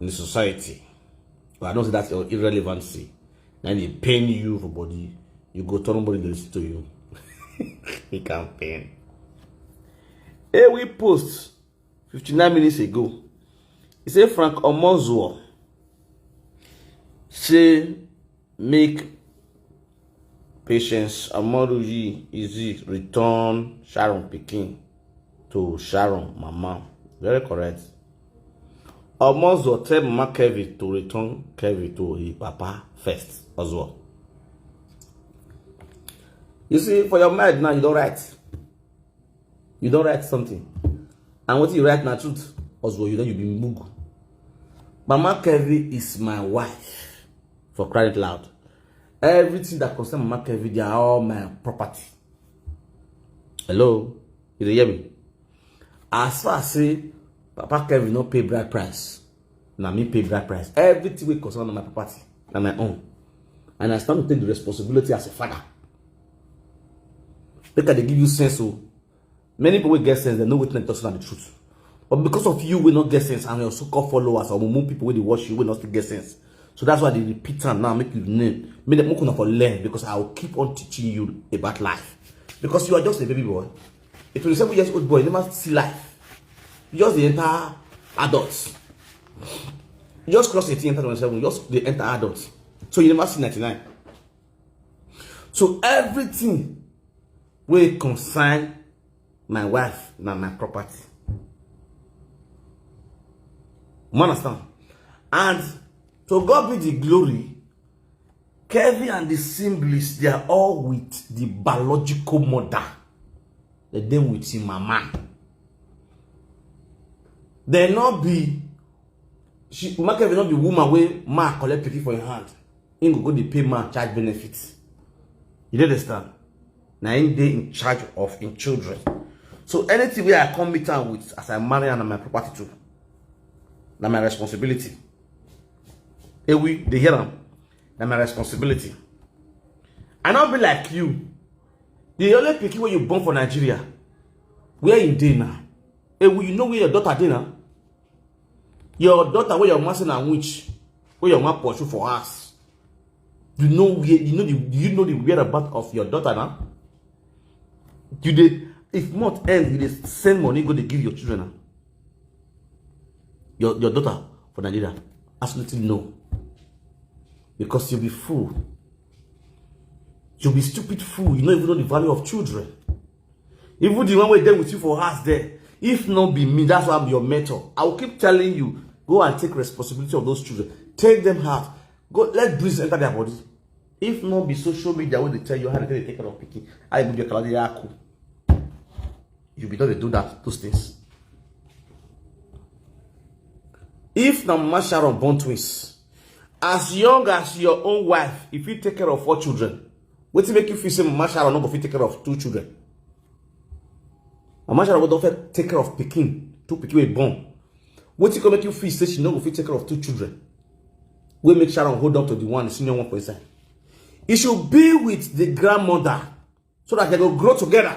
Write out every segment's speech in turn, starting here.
in the society but i know say that's your irrelevancy na dey pain you for body you go turn nobody dey listen to you he can pain hey we post 59 minutes ago he say frank omozuo say make Patience Amoruyi Easy return Sharon Pikin to Sharon Mama. Very correct. Omozo tell Mama Kevin to return Kevin to his papa first as well. You see, for your mind now, you don't write. You don't write something. And what you write now, truth, as well, you know, you be mug. Mama Kevin is my wife. for crying out loud everything that concern mama kevin they are all my property hello you dey hear me as far as say papa kevin no pay bride price na me pay bride price everything wey concern my property na my own and i stand to take the responsibility as a father make i dey give you sense o. Oh. many people wey get sense dem know wetin dem talk say na the truth but because of you wey no get sense and your so-called followers or mumu people wey dey watch you wey no still get sense so that's why i dey repeat am now make you know make dem make una for learn because i will keep on teaching you about life because you are just a baby boy a 27 years old boy never see life you just dey enter adult you just cross 18 enter 27 you just dey enter adult so you never see 99 so everything wey concern my wife na my property you understand and to God be the glory Kevin and the siblings they are all with the biological mother they dey with him mama they not be she Kevin not be woman wey ma collect pikin for im hand him go go dey pay man child benefit you dey understand na him dey in charge of him children so anything wey i come meet am with as i marry am na my property too na my responsibility ewi dey hear am na my responsibility i no be like you the only pikin wey you born for nigeria where you dey now ewi you know where your daughter dey now your daughter wey your mama say na witch wey your mama pursue for house you know where you know the you know the whereabout of your daughter na you dey if month end you dey send money go dey give your children na your your daughter for nigeria absolutely no because you be fool you be stupid fool you no even know the value of children Even the one wey dey with you for house there, if not be me, that's why I'm your mentor. I will keep telling you, go and take responsibility of those children. Take them out. Go let breeze enter their body. If not be social media wey dey tell you how to take care of pikin, how you go be kaladi yaku. You be not dey do that those things. If na Mama Sharon born twins, as young as your own wife, if you take care of four children, wetin make you feel say mama sharon no go fit take care of two children mama sharon go don fit take care of pikin two pikin wey born wetin go make you feel say she no go fit take care of two children wey make sharon hold on to the one the senior one for inside e should be with the grandmother so that they go grow together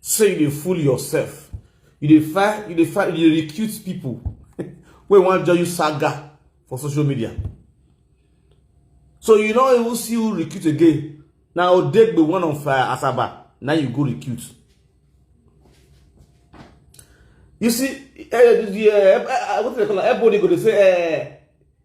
say you dey fool yourself you dey find you dey find you dey recruit people wey wan join you saga for social media so you no even see who recruit again na odegbe one of uh, asaba na you go recruit you see eh, the, eh, eh, eh, what do they call am? everybody go dey say eh,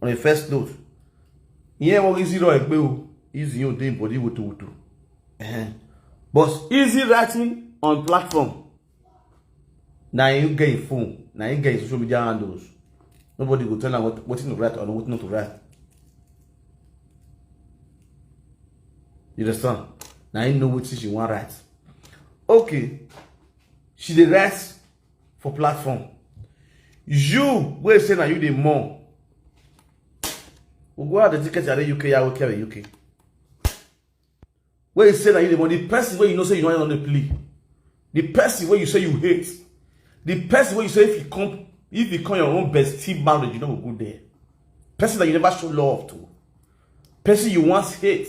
on a first note ihe enweghị isi rọ ekpe o izi ihe ode mbọdị wuto wuto but easy writing on platform na you get phone na you get social media handles nobody go tell am wetin to write or wetin not to write you understand na you know wetin she wan write okay she dey write for platform you wey say na you dey mourn ogun ade ticket are uk ya oke are uk wey say na you dey mourn the person wey you know say you no dey play the person wey you say you hate the person wey you say if you come if you come your own bestie marriage you no go go there person that you never show love to person you once hate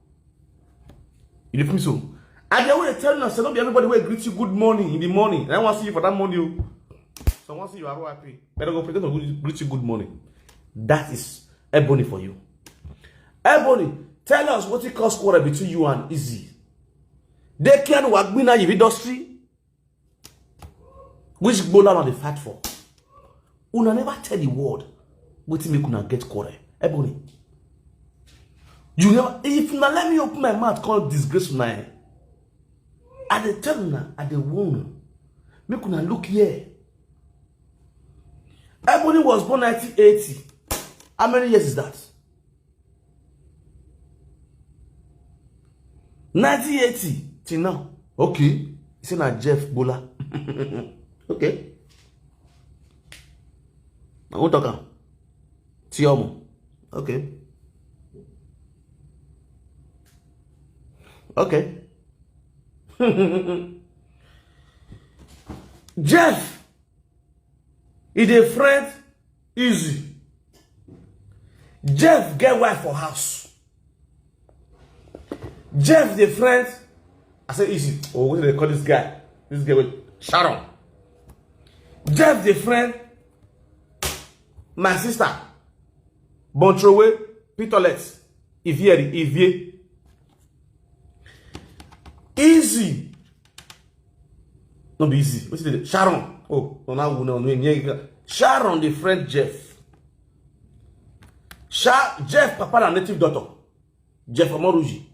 You dey feel me so? I dey always tell you, say no be everybody will greet you good morning in the morning. And I want to see you for that morning. You. Oh. So I want to see you ROIP. Better go pretend to greet you good morning. That is Ebony for you. Ebony, tell us what it cost quarter between you and Izzy. They can work in the industry. which gbola una dey fight for una never tell the world wetin make una get quarrel ebony you never if una let me open my mouth come disgrace una eh i dey tell una i dey warn una make una look here ebony was born 1980 how many years is that nineteen eighty till now okay say na jeff bola okay na who talk am ti ọmọ okay okay jeff e dey friend easy jeff get wife for house jeff the friend i say easy oh what do they call this guy this guy with sharon jeff the friend my sister bontrowe pitolet ivie ivie easy no be easy wetin dey sharon oh no na wu na onu enye ga sharon dey friend jeff Sha jeff papa na native doctor jeff omoruji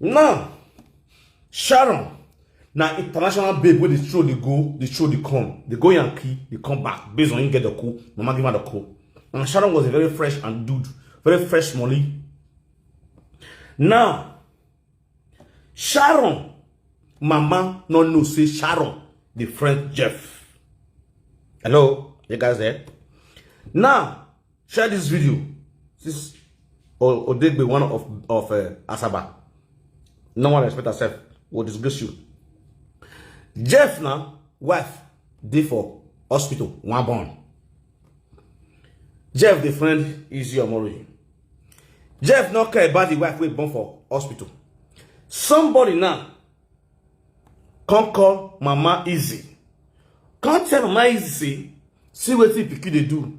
now sharon na international babe wey dey throw dey go dey throw dey come dey go yankee dey come back based on him get the cool mama give her the cool and sharon was a very fresh and dude very fresh money now sharon mama no know say sharon dey friend jeff hello you guys there now Share this video. This Odegbe, one of, of uh, Asaba. No one respect herself. Will disgrace you. Jeff now, wife, dey for hospital, one born. Jeff, the friend, is your Omori. Jeff not care about the wife we born for hospital. Somebody now come call Mama Easy. Come tell Mama Easy, see what the pikin they do.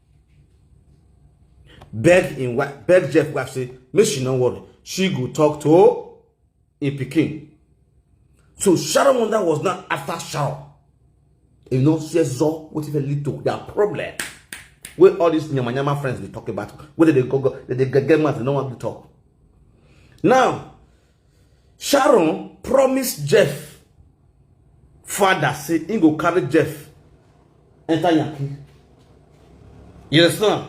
beg im wife beg jeff wife say make she no worry she go talk to im pikin so sharon wonder was not after sharon e no see zor wetin fit lead to their problem wey all these yamayama friends dey talk about wey dey go go dey get mouth dey no wan talk now Sharon promise Jeff father say he go carry Jeff enter Yankee. You understand?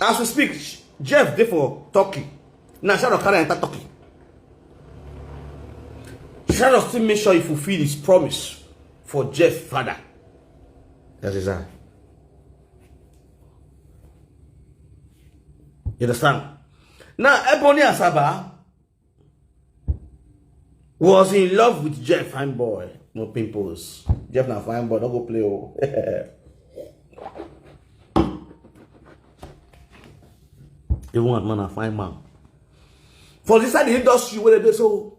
As we speak, Jeff dey for Turkey. Now Sharon carry enter Turkey. Sharon still make sure he fulfill his promise for Jeff father. That is that. You understand? Now, Ebony Asaba was in love with Jeff Fine Boy. No pimples. Jeff na fine boy, don't go play. Oh. Even one man a fine man. For this side the industry where they so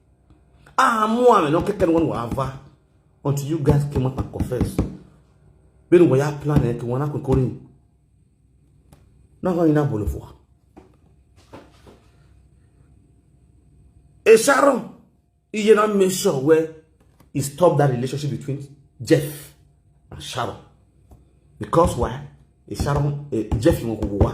Ah, mo am no keke no one ava until you guys came out and confess. Been we are planning to one akon korin. Na ho ina bolo fo. E Sharon, you not make sure where he stop that relationship between Jeff and Sharon. Because why? E Sharon, e Jeff mo ko wa.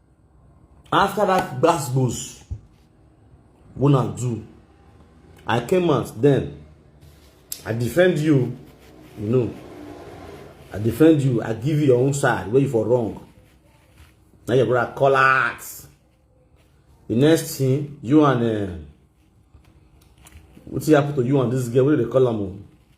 after that gbasgbos wey una do i came out then i defend you you know i defend you i give you your own side where you for wrong Now your brother call out the next thing you and uh, wetin happen to you and this girl wey dey call am o.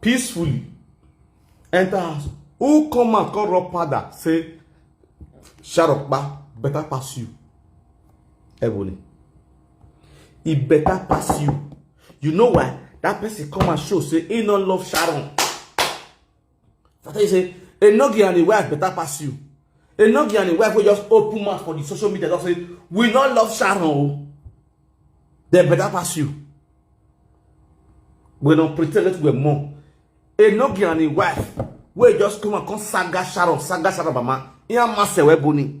peacefully enter house who come out come rub powder say sharokpa better pass you ebony e better pass you you know why that person come and show say he no love sharon I tell you say Enogi and im wife better pass you. Enogi and im wife wey just open mouth for the social media just say we no love Sharon o. Oh. Dem better pass you. We no pretend that we're more. Enogi and im wife wey just come and come saga Sharon, saga Sharon mama. Iya mase we boni.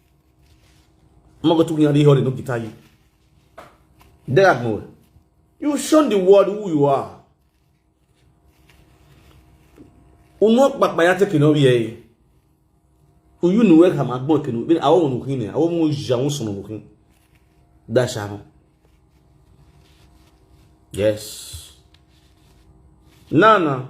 I'm not going to get hurry, no guitar you. That more. You show the world who you are. Unok back by take no ye. Uyu no work am agbon kinu. Bin awo no kin e. Awo mo ja won so no kin. Da sha no. Yes. Nana.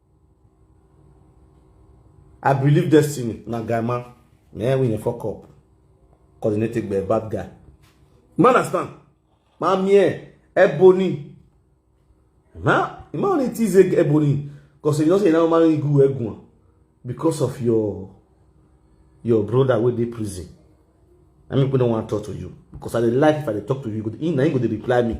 I believe destiny na guy man na him win fuck up coordinated by a bad guy. You understand? My man, Ebony. Now, you might only tease Ebony because you know say now marry good Egun because of your your brother wey dey prison. I mean, people don't want to talk to you because I dey like if I dey talk to you, you go, you go dey reply me.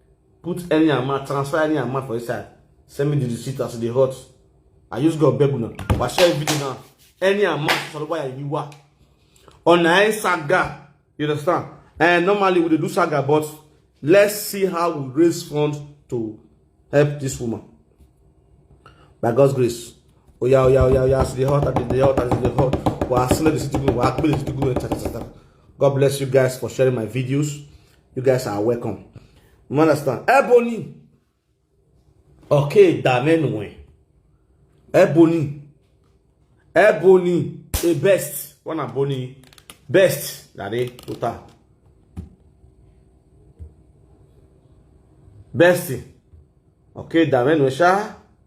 put any amount transfer any amount for inside send me the receipt as e dey hot i use god beg una wa share video now any amount sọlọpọ ya ibi wa ọ̀nà ẹ̀ saga you understand and normally we dey do saga but let's see how we raise funds to help this woman by god's grace oya oya oya oya as e dey hot as e dey hot as e dey hot wa send the receipt to me wa akpele the receipt to me cha cha cha cha god bless you guys for sharing my videos. you guys are welcome you understand ebony okay damenwe ebony ebony a best one ebony best dade total best okay damenwe sha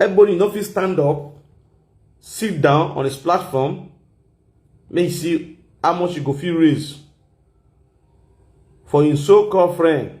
Everybody no fit stand up, sit down on his platform, make you see how much you go fit raise for him so-called friend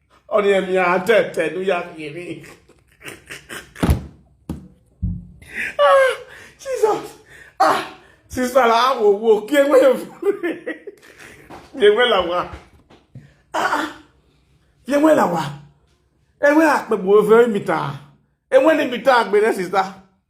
Oni emi ante te nu ya kiri. Ah, Jesus. Ah, sister la wo wo ki ewe yo. Ki ewe la wa. Ah, ki ewe la wa. Ewe akpe bo ewe mita. Ewe ni mita akpe ne sister.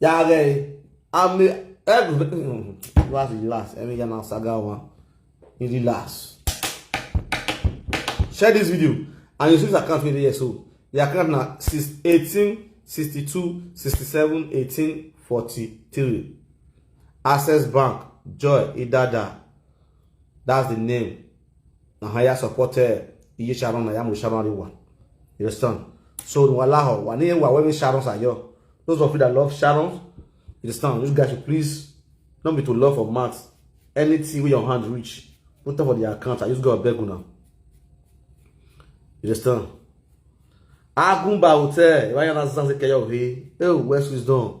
Ya rey, ame, eg, lwa si lwa, se mi gen nan saga wan, mi li lwa. Share this video, and you see this account video here so, the account na 18, 62, 67, 18, 43. Access Bank, Joy Idada, that's the name. na ha ya support eh, iye sharon na ya mo sharon ri wa you understand so no allow wa ni wa when sharon sa yo those of you that love sharon you understand you guys should please not be to love for mouth anything wey your hand reach put am for the account i just go beg una you understand agumba hotel iwaya na zanze keyo he eh west wisdom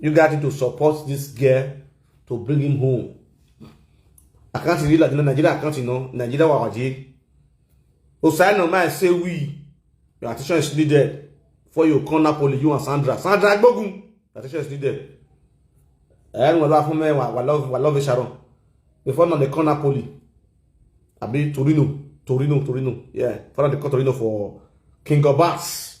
You got to support this girl to bring him home. I can't really like Nigeria, I can't you know, Nigeria wa waje. Osai no man say we, your attention is needed for your corner poly, you and Sandra. Sandra Gbogun, your attention is needed. And we love me, we love, we love Sharon. Before now the corner poly, I be Torino, Torino, Torino, yeah. Follow the Torino for King of Bass.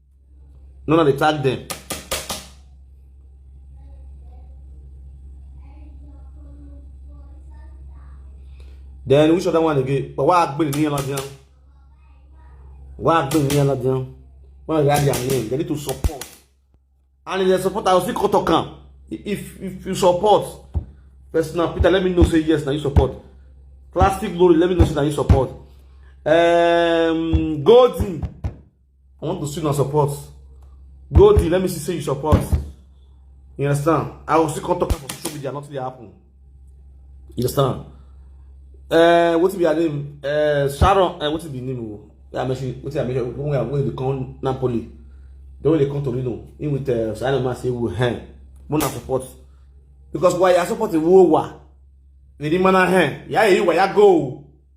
no na dey tag dem then which other one again but why agbere ni elajan why agbere ni elajan why they add their name they need to support and if they support i go still go talk am if if you support personal peter let me know say yes na you support plastic glory let me know say na you support um, golden I want to see una support. Go there, let me see say you support. You understand? I will still come talk about social media, nothing dey happen. You understand? Uh, what be your name? Uh, Sharon, uh, what be your name? Yeah, I mentioned, what I mentioned, when we are going to come Napoli, the way they come to Reno, in with uh, Simon Man say, we hand, we not support. Because why you support the war? They demand a hand. Yeah, you why you go?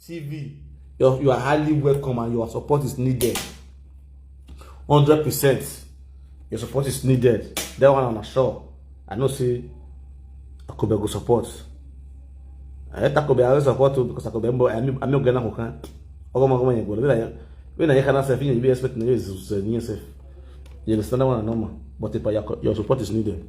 TV. You're, you are highly welcome and your support is needed. 100%. Your support is needed. That one I'm sure. I know see Akobe go support. I let Akobe I support too because Akobe mbo I'm I'm not gonna hook. Ogo mo kama nyego. Bila we na yekana self you be expect na yesu se ni self. You understand that one normal. But if your support is needed.